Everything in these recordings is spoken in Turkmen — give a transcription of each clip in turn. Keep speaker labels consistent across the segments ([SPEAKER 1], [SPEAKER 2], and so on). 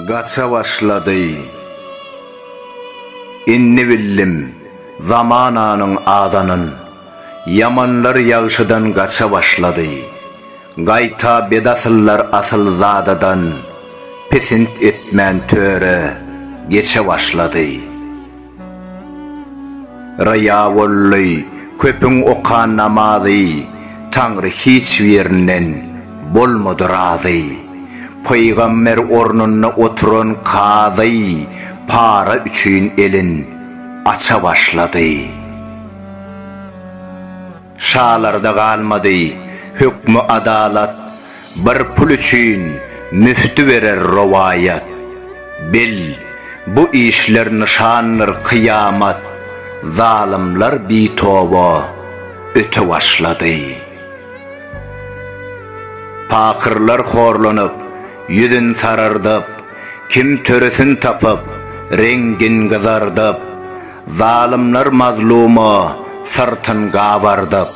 [SPEAKER 1] Gaça başlady. Indi bildim, zamananyň adanyn. Ýamanlar ýagşydan gaça başlady. Gaýta bedasyllar asyl zadadan pisint etmän töre geçe başlady. Ryýa boldy, köpüň okan namazy Taňry hiç birinden bolmady razy. Pygamber ornunda oturan kazy para üçin elin aça başlady. Şalarda galmady hökmü adalat, Bir pul üçin müfti berer rowaýat. Bil, bu işler nyşandyr kyýamat, Zalymlar bitoba öte başlady. Pakyrlar horlanyp, ýüzün sarardyp, Kim töresin tapyp, reňgin gyzardyp, Zalymlar mazlumy syrtyn gabardyp,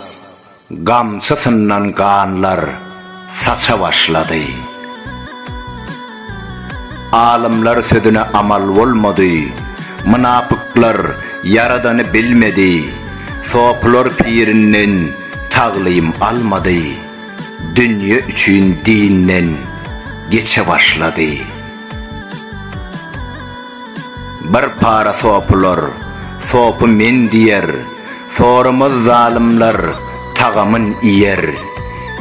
[SPEAKER 1] gamçysyndan ganlar saça başlady. Alymlar sözüne amal bolmady, mynapyklar Ýaradany bilmedi, sopylar pirinden taglym almady, dünýe üçin dinden geçe başlady. Bir para sopular, sopy men diýer, Sorumaz zalymlar, tagamyn iýer.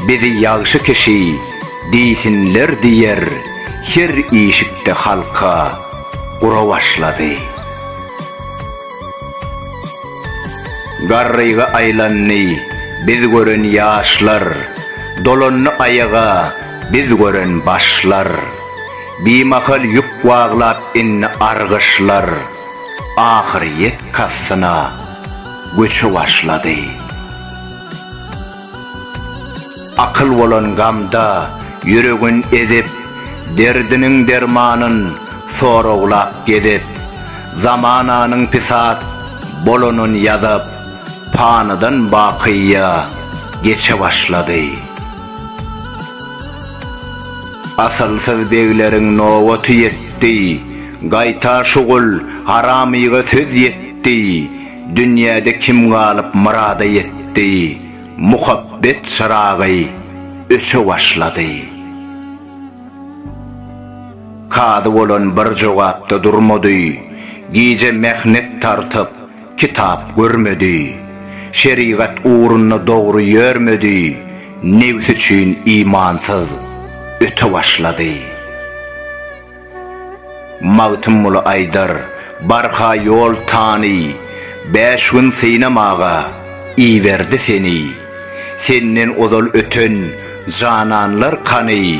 [SPEAKER 1] Bizi ýagşy kişi, diýsinler diýer, Her işikde halka gura başlady. Garryga aýlandy biz gören ýaşlar, Dolandy aýaga biz gören başlar. Bimahal ýük waglap indi argyşlar ahyrýet kastyna göçe başlady. Akyl bolan gamda ýüregin ezip, derdiniň dermanyn soraglap gezip, zamananyň pisat bolanyn ýazyp, panydan bakyýa geçe başlady. Asylsyz begleriň nobaty ýetdi, Gaýta şugul haramyga söz ýetdi, Dünýäde kim galyp myrada ýetdi, Muhabbet çyragy öçe başlady. Kazy bolan bir jogapda durmady, Gije mähnet tartyp, Kitap görmedi, şerigat ugrunda dogry ýörmedi, nebsi üçin imansyz öte başlady. Magtymguly aýdar, Barha ýol tany, bäş gün synamaga iberdi seni, Senden ozal öten jananlar kany,